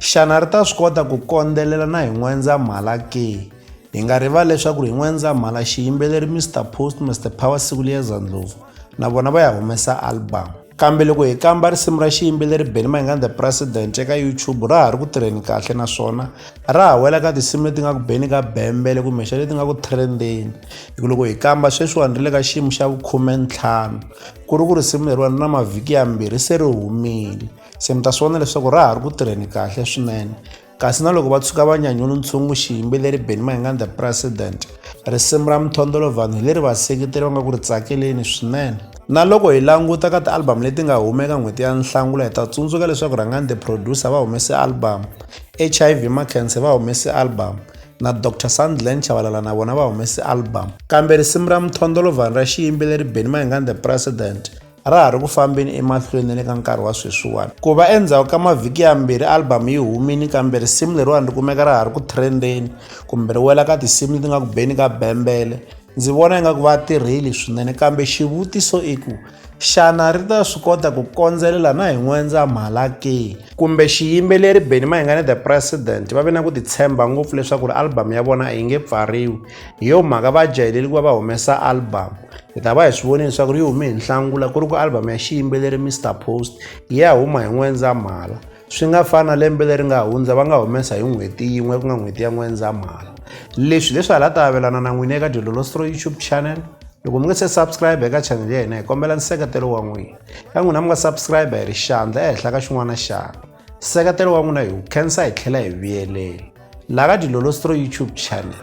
Xana ri ta swi kota ku kondzelela na hi N'wendzamhala ke? Hi nga rivali leswaku hi N'wendzamhala xiyimbeleri Mister Post, Mister Power Sikuliyeza Ndlovu na vona va ya humesa album. Kambe loko hi kamba risimu ra xiyimbeleri Benny Mayengani The President eka YouTube ra ha ri ku tirheni kahle naswona ra ha wela ka tinsimu leti nga ku beni ka bembele kumbexana leti nga ku trendeni. Hi ku loko hi kamba sweswiwani ri le ka xiyimo xa vukhume ntlhanu ku ri ku risimu leriwani ri na mavhiki yambirhi se ri humile. se mi ta swi vona leswaku ra ha ri ku tirheni kahle swinene kasi na loko va tshuka va nyanyula ntshungu xiyimbeleri benny mahingan the president risimu ra mithondolo vanhu hi leri vaseketeri va nga ku ri tsakeleni swinene na loko hi languta ka ti-album leti nga humeka n'hweti ya nhlangula hi ta tsundzuka leswaku rhangani the producer va humese album h i v makense va humese album na dr sandland chavalala na vona va humese album kambe risimu ra mithondolo vanhu ra xiyimbeleri benny mahingan the president a ra ha ri ku fambeni emahlweni ni le ka nkarhi wa sweswiwani ku va endzhaku ka mavhiki yambirhi albhamu yi humini kambe risimu leriwani ri kumeka ra ha ri ku trendeni kumbe ri wela ka tinsimu leti nga ku beni ka bembele ndzi vona ingaku va tirheli swinene kambe xivutiso i ku xana ri ta swi kota ku kondzelela na hi n'wendzamhala ke kumbe xiyimbeleri beni mahingane the president va ve na ku titshemba ngopfu leswaku ri albhamu ya vona a yi nge pfariwi hi yo mhaka va jahileli ku va va humesa albhamu hi ta va hi swi vonile leswaku ri yi hume hi nhlangula ku ri ku album ya xiyimbeleri mr post yi ya huma hi n'wendzamhala swi nga fani na lembe leri nga hundza va nga humesa hi n'hweti yin'we ku nga n'hweti ya n'wendzamhala leswi leswi hala ta avelana na n'wini eka dilolostro youtube channel loko mi nga se subscribe eka channel ya hina hi kombela nseketelo wa n'wina ka n'wina mi nga subscribe hi ri xandla ehenhla ka xin'wana na xana nseketelo wa n'wina hi wu khensa hi tlhela hi vuyelela laha ka dilolostro youtube channel